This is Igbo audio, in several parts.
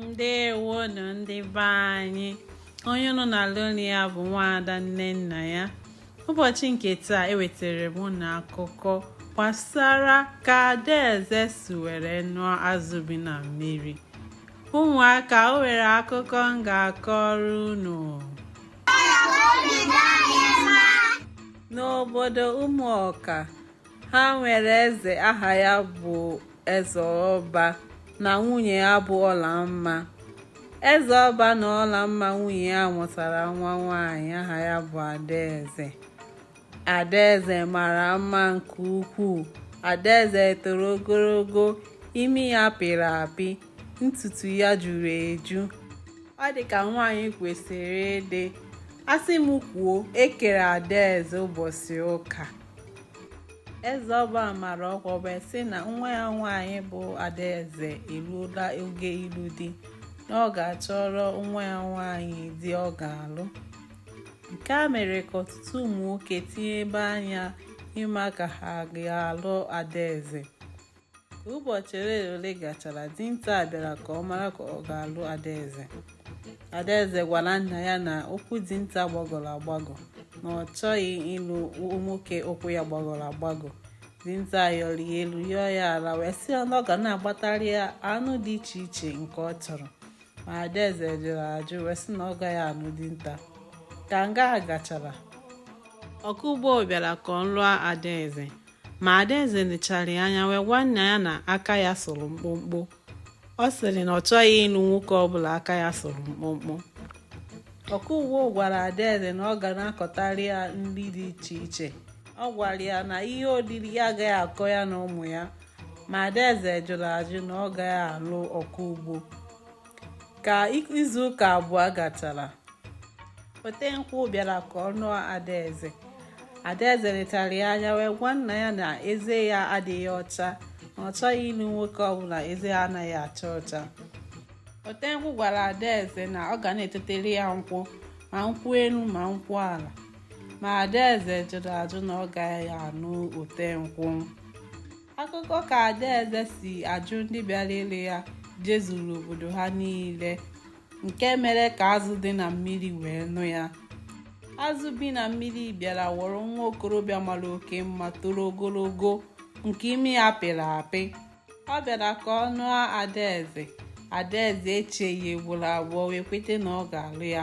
ndewonu ndị be anyị onye unu na-anụ olu ya bụ nwaada nnennaya ụbọchị nke taa ewetara m unu akụkọ gbasara ka adaeze si were nụọ azụ bi na mmiri ụmụaka o nwere akụkọ m ga-akọrọ unu n'obodo ụmụọka ha nwere eze aha ya bụ eze ọba na nwunye ya bụ ọlamma eze ọba na ọlamma nwunye ya mụtara nwa nwaanyị aha ya bụ adaeze adaeze mara mma nke ukwuu adaeze toro ogologo imi ya pịrị apị ntutu ya juru eju ọ dị ka nwaanyị kwesịrị ịdị asị m kwuo ekere adaeze ụbọchị ụka eze ọba mara ọkwa wee sị na nwa ya nwaanyị bụ adaeze eruola oge ịlụ di na ọ ga-achọrọ nwa ya nwaanyị di ọ ga-alụ nke a mere ka ọtụtụ ụmụ nwoke tinyebe anya ịma ka ha ga-alụ adaeze ka ụbọchị ole ole gachara dinta bịara ka ọ mara ka ọ ga-alụ adaeze adaeze gwara nna ya na ụkwụ dinta gbagọrọ agbagọ na ọ chọghị ịlụ nwoke ụkwụ ya gbagọrọ agbagọ dinta yọrọ ya elu yọọ ya ala wee sị ya na ọ ga na-agbatara ya anụ dị iche iche nke ọ chọrọ ma adaeze jụrụ ajụ wee sị na ọ gaghị anụ dinta ka nga a gachara ọkọ ugbo bịara ka ọ lụọ adaeze ma adaeze nechara ya anya wee gwa nna ya na aka ya sụrụ mkpụmkpụ ọ sịrị na ọ chọghị ịlụ nwoke ọbụla aka ya sụrụ mkpụmkpụ ọkọ ugbo gwara adaeze na ọ ga na-akọtara ya nri dị iche iche ọ gwara ya na ihe oriri ya agaghị akọ ya na ụmụ ya ma adaeze jụrụ ajụ na ọ gaghị alụ ọkọ ugbo ka izu ụka abụọ gachara otenkwụ bịara ka ọ nụọ adaeze adaeze letara ya anya wee gwa nna ya na eze ya adịghị ọcha na ọ chọghị ịlụ nwoke ọbụla eze ya anaghị acha ọcha otenkwụ gwara adaeze na ọ ga na-etetere ya nkwụ ma nkwụ elu ma nkwụ ala ma adaeze jụrụ ajụ na ọ gaghị anụ otenkwụ akụkọ ka adaeze si ajụ ndị bịara ịlụ ya jezuru obodo ha niile nke mere ka azụ dị na mmiri wee nụ ya azụ bi na mmiri bịara wọrọ nwa okorobịa mara oke mma toro ogologo nke imi ya pịrị apị ọ bịara ka ọ nụọ adaeze adaeze echeghị ugboro abụọ wee kweta na ọ ga-alụ ya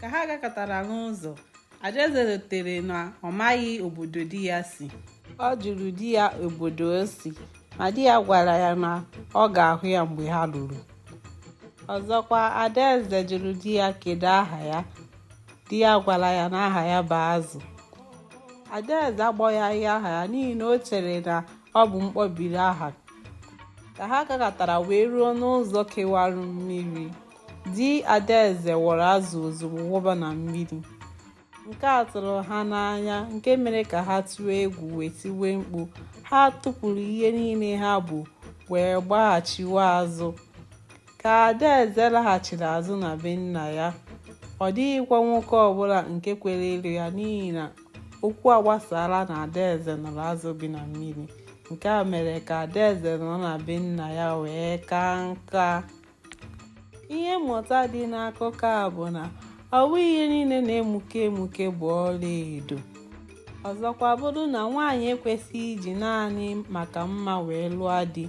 ka ha gakatara n'ụzọ adaeze rotere na ọ maghị obodo di ya si ọ jụrụ di ya obodo o si ma di ya gwara ya na ọ ga-ahụ ya mgbe ha luru ọzọkwa adaeze jụrụ di ya kedu aha ya di ya gwara ya na aha ya bụ azụ adaeze agbaghaghị aha ya n'ihi na o chere na ọ bụ mkpọbiri aha ka ha gakatara wee ruo n'ụzọ kewara mmiri Di Adaeze wọrọ azụ ozugbo wụba na mmiri. Nke a tụrụ ha n'anya nke mere ka ha tụọ egwu wee tiwe mkpu. Ha tụpụrụ ihe niile ha bu wee gbaghachiwa azụ. Ka Adaeze laghachiri azụ na be nna ya, ọ dịghịkwa nwoke ọbụla nke kwere ịlụ ya n'ihi na okwu agbasaala na Adaeze nụrụ azụ bi na mmiri. Nke a mere ka Adaeze nọrọ na be nna ya wee kaa nka. ihe mmụta dị n'akụkọ a bụ na ọ bụghị ihe niile na-emuke emuke bụ ọla edo ọzọkwa bụrụ na nwaanyị ekwesịghị iji naanị maka mma wee lụọ di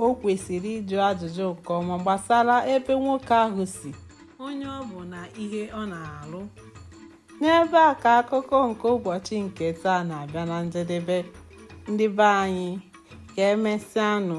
o kwesịrị ịjụ ajụjụ nke ọma gbasara ebe nwoke ahụ si onye ọ bụ na ihe ọ na-alụ n'ebe a ka akụkọ nke ụbọchị nke taa na-abịa na njedebe ndị be anyị ka emesịanụ